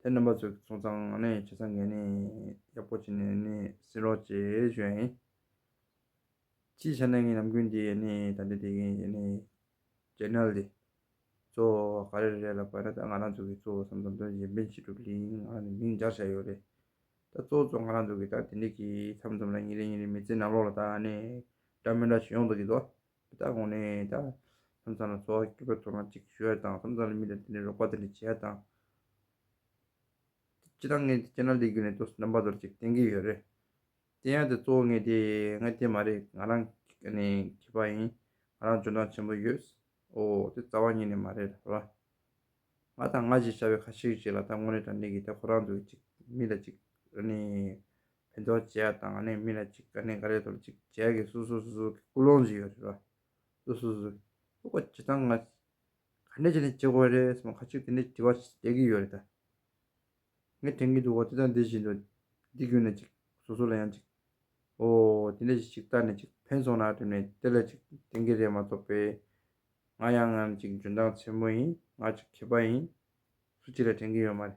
དེ་རྣམ་པ་ཚོའི་ཚོང་ཚང་ནས་བྱེད་ས་འགན་ནས་ཡག་པོ་བྱེད་ནས་ནས་སྲིད་རོགས་བྱེད་བཞོན་ཡིན། སྤྱིའི་ཆ་ནས་ངའི་ལམ་ཀུན་དེ་ནས་ད་འདི་དེ་གིན་ཡེ་ནས་ཇེ་ནལ་དེ། གཙོ་བོ་ག་རེ་རེད་ལ་བར་ན་ད་ང་རང་ཚོ་གིས་གཙོ་བོ་བསམ་བསམ་དོན་གཞན་ཕན་བྱེད་གྲུབ་གིན་ང་རང་ནས་མིང་སྦྱར་བྱས་ཡོད་རེད། ད་གཙོ་བོ་གཙོ་ང་རང་ཚོ་གིས་ད་དེ་འདི་གིས་མཚམས་མཚམས་ལ་ཉིན་རེ་ཉིན་རེ་མི་ཚེའི་ནང་ལོགས་ལ་ད་ནས་འདྲ་མི་འདྲ་བྱེད་ཡོང་དུ་གིན་འདུག་དེ་དག་གོང་ནས་ད་ཐམ་ཚང་ལ་འཚོ་བ་སྐྱིད་པོ་ཐོབ་ན་ཅིག་ཞུ་ཡ་དང་ཐམ་ཚང་ལ་མི་དང་དེ་ནས་རོགས་པ་དེ་འདྲ་བྱེད་ཡ་དང། སྤྱི་དང་ངས་སྤྱི་ནང་ལས་རྒྱུ་ནས་དོ་ནམ་པ་དོར་ཅིག་བསྟན་གྱི་ཡོད་རེད། བསྟན་ཡ་དེ་གཙོ་བོ་ངས་དེ་ང་དེ་མ་རེད་ང་རང་མཁས་པ་ཡིན་ང་རང་འཇོན་ཐང་ཆེན་པོ་ཡོད། ཨོ་དེ་རྩ་བ་ཉིད་ནས་མ་རེད་ལ། ང་དང་ང་ཞེས་བྱ་བའི་ཁ་ཤེས་ཤིག་ཅིག་ལ་ད་དངོས་གནས་དྲང་གནས་ཀྱི་ད་ཁོ་རང་ཚོ་གཅིག་མི་ལ་གཅིག་ཕན་ཐོགས་བྱས་ཡ་དང་གནས་མི་ལ་ཅིག་ག་གནས་ག་རེ་དང་ཅིག་བྱས་ཀྱི་སུ་སུ་སུ་སུ་ཀུ་ལོང་ཟིག་ཡོད་རེད་བ། སུ་སུ་སུ་ལུག་པ་ཇི་ཐང་ང། ག་གནས་ཅི་ནས་ཇི་དགོས་རེད་སམ་ཁ་ཅིག་དེ་འདྲའི་དྲི་བ་བྱས་ཀྱི་ཡོད་རེད་ད། ངས་དྲན་གྱི་འདུག་བ་འདི་དང་འདི་བཞིན་དུ་འདི་བརྒྱུད་ནས་ཅིག་སུ་སུ་ལ་ཡང་ཅིག་ཨོ་དེ་འདྲས་ཞིག་བལྟ་ནས་ཅིག་ཕན་སོང་ན་བསྒྲིམ་ནས་དེ་ལ་ཅིག་དྲན་གྱི་རེད་མ་གཏོགས་པས། ང་ཡང་ངར་ཅིག་འཇོན་ཐང་ཆེན་པོ་ཡིན་ང་ཅིག་མཁས་པ་ཡིན། སུ་ཅིག་ལ་དྲན་གྱི་ཡོད་མ་རེད།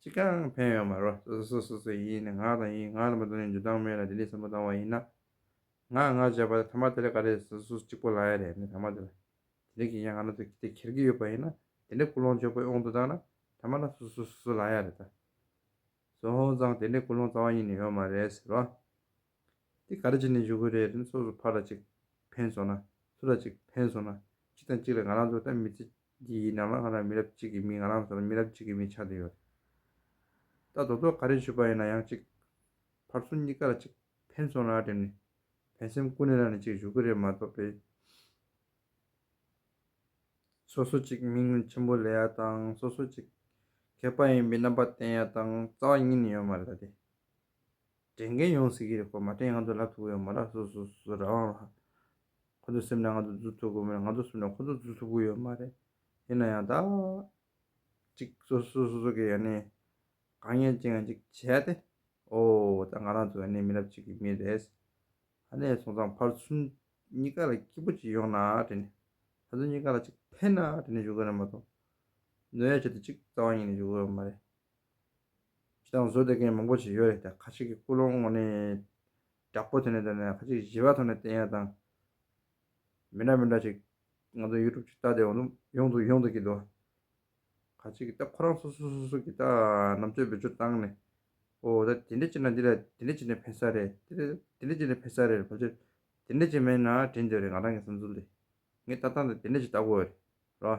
ཅི་གང་ཕན་ཡོད་མ་རོ། སོ་སོ་སོ་སོའི་ཡིད་ནི་ངག་དང་ཡིད་ངག་རྣམ་པ་དང་ནི་འཇུག་ལྡང་མེད་ལ་དེ་ལས་སེམས་པ་ལྡང་བ་ཡིན་ན། ངག་ངག་བྱས་པ་ཐ་མ་དེ་ལས་ག་རེ་སོ་སོ་གཅིག་པོ་ལ་ཡ་རེ་མེད་ཐ་མ་དེ་ལ་དེ་རིག་གི་ཡ་ང་ན་དུ་དེ་ཁྱེར་གི་ཡོད་པ་ཡིན་ན་དེ་འདྲའི་ཀུན་སློང་འཇོག་པའི་དབང་དུ་བཏང་ན་ཐ་མ་ལ་སོ་སོ་སོ་སོ་ལ་ཡ་རེ་ད་གཟོད་ཧོན་ཙང་དེ་འདྲའི་ཀུན་སློང་རྩ་བ་ཉིད་ནས་ཡོད་མ་རེད་ཟེར་རོ། དེ་ག་རེ་བྱས་ནས་འཇུག་གི་རེད་དེ་ནི་སོ་སོ་ཕར་ལ་གཅིག་ཕན་སོང་ན་སུ་ལ་གཅིག་ཕན་སོང་ན་གཅིག་དང་གཅིག་ལ་ང་རང་ཚོ་ལྟ་མི་ཚེ་འདི་ཡི་ནང་ལ་ང་རང་མི་རབས་གཅིག་གི་མི་ང་རང་ཚོར་མི་རབས་གཅིག་གི་མི་ཆགས་འདོད་ཡོད། ད་རྡོ་ཐོག་ག་རེ་བཞུད་པ་ཡིན་ན་ཡང་གཅིག། ཕར་སོང་གཉིས་ཀ་ལ་གཅིག་ཕན་སོང་ལ་དྲན་ནས་ཕན་སེམས་ཀུན་ནས་རག་ནས་གཅིག་བཞུགས་ཀྱི་རེད་མ་གཏོགས་པའི། སོ་སོ་གཅིག་མིག་སྔར་ཆེན་པོ་ལས་ཡ་དང་སོ་སོ་གཅིག། མཁས་པ་ཡིན་པའི་རྣམ་པ་བསྟན་ཡ་དང་རྩ་བ་གཉིས་ནས་ཡོད་མ་རེད་ལ་དེ། དྲན་མཁན་ཡོངས་སུ་ཡིད་རེ་སྐོར་མ་དྲན་ཡང་ང་ཚོ་ལབ་ཐུབ་གི་ཡོད་མ་རེད་སོ་སོ་སོ་རང་རང་ལ་ཁོ་ཚོའི་སེམས་ནས་ང་ཚོ་འཛུལ་ཐུབ་དགོས་མེད་ལ་ང་ཚོ་སེམས་ནས་ཁོ་ཚོ་འཛུལ་ཐུབ་གི་ཡོད་མ་རེད་ཡིན་ན་ཡང་དག་ཅིག་སོ་སོ་སོ་སོ་གིས་ཡང་ནི་དགའ་ཉེ་ཅིག་ང་ཅིག་བྱས་ཏེ་ཨོ་ད་ང་རང་ཚོ་ཡང་ནི་མི་རབས་གཅིག་གི་མི་རེད་ད་ནས་བཟུང་ཚང་ཕར་ཚུར་གཉིས་ཀ་ལ་སྐྱིད་པོ་ཅིག་ཡོང་ན་དྲན་ནས་ད་ཚོ་གཉིས་ཀ་ལ་ཅིག་ཕན་ན་དྲན་ནས་བཞུགས་གི་རེད་མ་གཏོགས་ནོར་ཡ་བྱས་ཏེ་ཅིག་རྩ་བ་ཉིད་ནས་བཞུགས་གི་ཡོད་མ་རེད་ཅི་དང་བཟོ་དེ་མཁན་མང་པོ་ཞིག་ཡོད་རེད་དེ་ཁ་ཅིག་གི་སྐུ་ལོང་ངོ་ནས་རྒྱག་པོ་དེ་ནས་དེ་ནས་ཁ་ཅིག་གཞི་བ་ཐོག་ནས་བསྟན་ཡ་དང། མི་འདྲ་མི་འདྲ་ཞིག་ང་ཚོ་ཡུ་ཀྲུབ་ཅིག་ལྟ་དེ་འོ་ནུབ་ཡོང་དུ་ཡོང་དུ་གི་འདུག་ཁ་ཅིག་གི་ད་ཁོ་རང་སོ་སོ་སོ་སོ་གི་ད་རྣམ་དཔྱོད་བེད་སྤྱོད་བཏང་ནས་ཨོ་ད་དེ་འདྲ་བྱས་ན་འདི་ལ་དེ་འདྲ་བྱས་ནས་ཕན་ས་རེད་དེ་འདྲ་བྱས་ནས་ཕན་ས་རེད་ཕལ་ཆེར་དེ་འདྲ་བྱས་མེད་ན་དྲན་འདོད་རེད་ང་རང་གི་བསམ་ཚུལ་ལས་ངས་ལྟ་སྟངས་དེ་དེ་འདྲ་ཞིག་ལྟ་དགོས་རེད་རོ།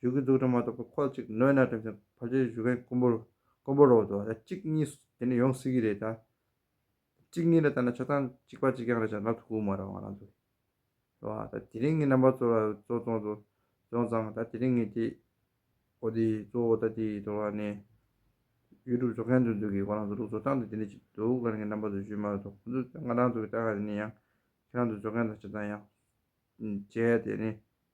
གཞུག་གི་འཛུགས་སྐྲུན་མ་གཏོགས་པའི་ཁོག་གཅིག་ནོན་ན་དྲིན་ཆེན་ཕར་ཆེར་གཞུག་མཁན་དཀོན་པོ་དཀོན་པོ་རོགས་འདུག་ད་གཅིག་གཉིས་དེ་ནས་ཡོང་སྲིད་ཀྱི་རེད་ད། གཅིག་གཉིས་ལ་ལྟ་ན་ཆ་ཚང་གཅིག་པ་གཅིག་རྐྱང་རེད་ཆ་ལག་ཏུ་ཁུག་མ་རང་བ་རང་ཚོ་རེད། རེད་བ། ད་དེ་རིང་ངས་རྣམ་པ་གཙོ་ལ་གཙོ་བཙོང་གཙོ་བཙོང་ཙང་ད་དེ་རིང་ངས་དེ་འོ་དེ་གཙོ་འོ་ད་དེ་གཙོ་ལ་ནས། YouTube བཟོ་མཁན་དུ་འདུག་གི་ཁོ་རང་ཚོ་ལུགས་བཟོ་སྟངས་དེ་དེ་འདྲ་ཅིག་འདུག་ང་ངས་རྣམ་པ་བཟོ་ཞུས་མ་རེད་དོ་ཁོ་ཚོས་ད་ང་རང་ཚོ་གི་ལྟ་ག་དེ་ནས་ཡང། ཁྱེད་རང་ཚོ་བཟོ་མཁན་དང་ཆ་ཚང་ཡང། བྱས་ཡ་དེ་ནས་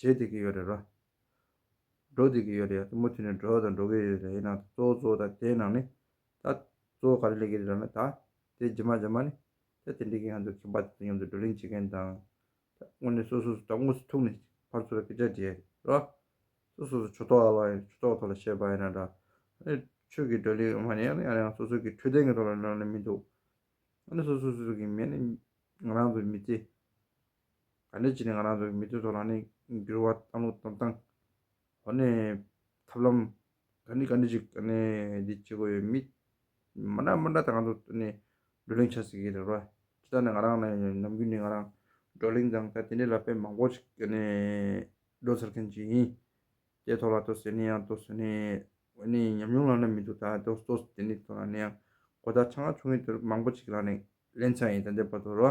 བྱེད་བདེ་གི་ཡོད་རེད་རོ། འགྲོ་བདེ་གི་ཡོད་རེད་ཡ་མུ་མཐུད་ནས་འགྲོ་དང་འགྲོ་གི་ཡོད་རེད་ཡིན་ནང་གཙོ་བོ་གཙོ་བོ་དང་དེའི་ནང་ནས། ད། གཙོ་བོ་ག་རེ་ལས་ཀི་རེད་ར་ན་ད། དེ་རྗེས་མ་རྗེས་མ་ནས། ད་དེ་འདྲི་གི་ང་ཚོ་ཁེ་འབའ་དེ་ཚོ་མཉམ་དུ་བགྲོ་གླེང་བྱེད་མཁན་དང། ད་དངོས་གནས་སོ་སོ་སོ་དང་དངོས་སུ་ཐུག་ནས་ཕར་ཚུར་ལ་སྐད་ཆ་འདྲི་ཡ་རེད་རོ། སོ་སོ་སོ་ཆོས་ཐོག་ལ་ཡིན་ཆོས་ཐོག་ཐོག་ལ་བཤད་པ་ཡིན་ན་འདྲ། ཨ་ནི་ཆོས་ཀི་བགྲོ་གླེང་མ་ནི་ཨ་ནི་ཨ་རང་སོ་སོ་ཀི་འཕྲོད་བསྟེན་གི་ཐོག་ལ་ནང་ནས་མི་འདུག། ཨ་ནི་སོ་སོ་སོ་སོ་ཀི་མི་ནི་ང་རང་ཚོ་མི་ཚེ། ག་འདྲས་བྱས་ནས་ང་རང་ཚོ་མི་ཚོའི་ཐོག་ལ་ནི་འགྱུར་བ་བཏང་ལུགས་བཏང་བཏང། འོ་ནི། ཐབས་ལམ། ག་འདྲས་ག་འདྲས་ཅིག་ག་ནི་འདི་བྱེད་དགོས་ཡོད་མི། མ་འདྲ་མ་འདྲ་དང་ང་ཚོ་ནི་བགྲོ་གླེང་བྱ་སྲིད་ཀྱི་རེད་རོ། དེ་དག་ནི་ང་རང་ནི་ནམ་རྒྱུན་ནི་ང་རང་བགྲོ་གླེང་དང་ད་དེ་འདྲས་ལ་དཔེ་མང་པོ་ཞིག་ག་ནི་བགྲོ་ཚར་མཁན་ཞིག་ཡིན། དེའི་ཐོག་ལ་ཏོ་ཟེར་ནི་ཡང་ཏོ་ཟེར་ནི། འོ་ནི་ཉམས་མྱོང་ལ་ནི་མི་འདུག་ད་ཏོ་ཏོ་དེ་ནི་ཐོག་ལ་ནི་ཡང་གོ་བརྡ་ཆ་ང་ཆུང་ངུ་དེ་རུ་མང་པོ་ཞིག་ལ་ནི་ལེན་ཚར་ཡིན་ད་འདྲས་པ་དོ་རོ།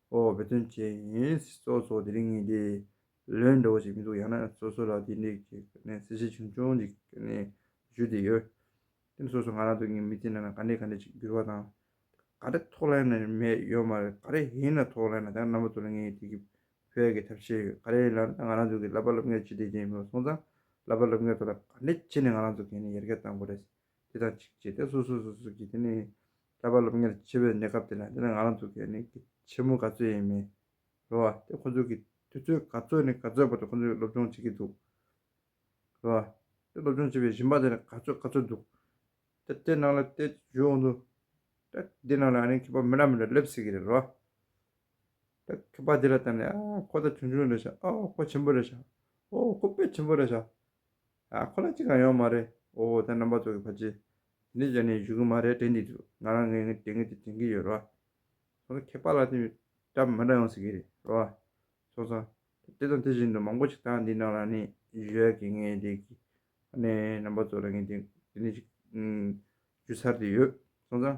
ཨོ་བོད་དོན་བཅས་ཡིན། སོ་སོ་དེ་རིང་ངས་དེ་ལོས་འདྲ་བོ་ཞིག་མི་འདུག་ཡང་ན་སོ་སོ་ལ་དེ་འདྲས་ཀྱི་གནས་ཚུལ་ཆེ་ཆུང་ཅུང་ཅིག་ནས་ཞུས་དེ་ཡོད། དེ་ནི་སོ་སོ་ང་རང་སྡོད་ཀྱི་མི་དེ་ན་ག་འདྲས་ག་འདྲས་ཅིག་འགྱུར་བ་དང། ག་འདྲས་ཐོག་ལེན་ནས་མེད་ཡོད་མ་རེད་ག་རེ་ཡིན་ན་ཐོག་ལེན་ན་དེ་རྣམ་པ་དུ་ལ་ངས་དེ་གི་བོད་ཀྱི་ཐབས་ཤེས་ཡོད་ག་རེ་ལ་ང་རང་ཚོ་གི་ལབ་པ་ལབ་མཁན་ཅི་འདྲས་ཅིག་ཡིན་མི་སོང་ཙང་ལབ་པ་ལབ་མཁན་ཚོ་ལ་ག་འདྲས་ཆེ་ནས་ང་རང་ཚོ་གན་ནས་ཡར་རྒྱ་བཏང་དགོས་རེད། དེ་དང་གཅིག་བྱས་ཏེ་སོ་སོ་སོ་སོ་ཀྱི་དེ་ནི་ཀ་པཱ་སློབ་གཉེར་བྱེད་པའི་གནས་སྐབས་དེ་ན་དེ་ན་ང་རང་ཚོ་གི་ནི་ཆེ་མོ་ག་ཚོད་ཡིན་མིན་རེད་བ་དེ་ཁོ་ཚོ་གི་དུས་ཚོད་ག་ཚོད་ནས་ག་ཚོད་བར་དུ་ཁོ་ཚོ་སློབ་སྦྱོང་བྱེད་ཀྱི་འདུག་རེད་བ། དེ་སློབ་སྦྱོང་བྱེད་པའི་རིམ་པ་དེ་ན་ག་ཚོད་ག་ཚོད་འདུག་དེ་དེ་ནང་ལ་དེ་བྱོས་འོང་དུས་ད་འདི་ནང་ལ་ཨ་རིའི་མཁས་པ་མི་འདྲ་མི་འདྲ་སླེབས་སྲིད་ཀྱི་རེད་རེད་བ། ད་མཁས་པ་དེ་ལ་བལྟ་ནས་ཨ་ཁོ་ད་ཆུང་ཆུང་རེད་ཤག་ཨོ་ཁོ་ཆེན་པོ་རེད་ཤག་ཨོ་ཁོ་དཔེ་ཆེན་པོ་རེད་ཤག་ཨ། ཁོ་ལ་གཅིག་གང་ཡོད་མ་རེད། ཨོ་ཨོ་ད་རྣམ་པ་ཚོགས་ཀྱི་ཕ་ཆེ། འདི་ཅོ་ནེའི་བཞུགས་གི་མ་རེད་དྲན་གྱི་འདུག་ང་རང་ངའི་ངའི་དྲན་གྱི་དེ་དྲན་གྱི་ཡོད་རོ་ཨ། ཁོ་ལ་ཁྱད་པར་ལ་དེ་འདྲ་མི་འདྲ་ཡོང་སྲིད་ཀྱི་རེད་རོ་ཨ། ཚོགས་ཚང། དེ་དང་དེ་བཞིན་དུ་མང་པོ་ཞིག་ད་འདི་ནང་ལ་ནི་ཡོད་ཀྱི་ངའི་དེ་གི་ཨ་ནེ་རྣམ་པ་ཚོ་ལ་ངའི་དེ་འདི་ནི་ཞིག་ཞུ་ཚར་དེ་ཡོད་སོང་ཙང།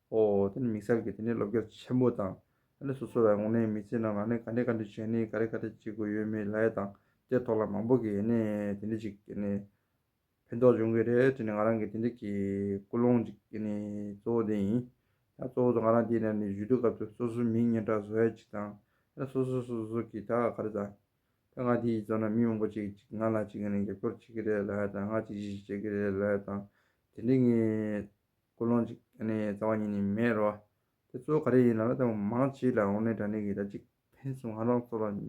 ཨོ། དེ་ནི་མིག་གསར་གྱི་དེ་ནས་ལོ་བརྒྱ་ཆེན་པོ་དང། དེ་ནས་སོ་སོ་བའི་ངོ་ནས་མི་ཚེ་རྣམས་ལ་ནི་ག་འདྲའི་ག་འདྲའི་བྱས་ནས་ག་རེ་ག་རེ་བྱེད་དགོས་ཡོད་མེད་ལ་ཡ་དང་དེའི་ཐོག་ལ་མང་པོ་གི་ཡེ་ནས་དེ་འདྲི་ཅིག་ཡེ་ནས་ཕན་ཐོགས་འབྱུང་གི་རེད་དྲི་ནས་ང་རང་གི་དེ་འདྲི་གི་ཀུན་སློང་ཅིག་ཡེ་ནས་གཙོ་བོ་དེ་ཡིན། ཡང་གཙོ་བོ་དང་ང་རང་དེ་ནས་ནི་ཇུས་བསྡུ་སྐབས་དུ་སོ་སོའི་མིང་སྙན་གྲགས་བཟོ་ཡ་ཅིག་དང་དེ་ནས་སོ་སོ་སོ་སོ་གི་ད་ག་རེ་དང། ད་ང་དེ་ཡི་གཙོ་ན་མི་མང་པོ་ཅིག་ཅིག་ང་ལ་ཅིག་ཡེ་ནས་རྒྱབ་སྐྱོར་བྱེད་གི་རེད་ལ་ཡ་དང་ང་ཅིག་ཅིག་ཅིག་བྱེད་གི་རེད་ལ་ཡ་དང་དེ་འདྲི་ངེས། ཀུན་སློང་གཅིག་ནི་རྩ་བ་ཉིད་ནས་མེད་རོ། དེ་གཙོ་བོ་ག་རེ་ཡིན་ལབ་ན་ལྟ་བ་མང་གཅིག་ལ་འོག་ནས་དྲ་གནས་ཀྱི་སྒྲ་གཅིག་ཕན་ཚུན་ང་རང་ཚོ་ལ་ང་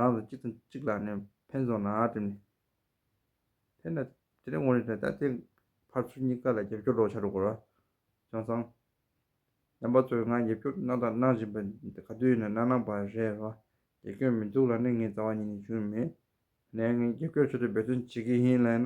རང་ཚོ་གཅིག་དང་གཅིག་ལ་ནས་ཕན་ཚུན་ནང་བསྒྲིབས་ནས་ཕན་ན་དེ་ནས་འོག་ནས་དྲ་ལྟ་དེ་ཕར་ཚུར་གཉིས་ཀ་ལ་རྒྱབ་སྐྱོར་རོགས་བྱ་རོགས་གོ། བྱང་བཟང། རྣམ་པ་ཚོས་ང་རྒྱབ་སྐྱོར་གནང་དང་གནང་བཞིན་པ་འདི་ག་དུས་ཡིན་ན་གནང་གནང་པ་རེད་རོ། རྒྱབ་སྐྱོར་མི་འདུག་ལབ་ན་ངས་རྩ་བ་ཉིད་ནས་ཞུ་ནི་མེད། ནས་ངས་རྒྱབ་སྐྱོར་ཆེད་དུ་འབད་བརྩོན་བྱེད་ཀྱི་ཡིན་ལབ་ན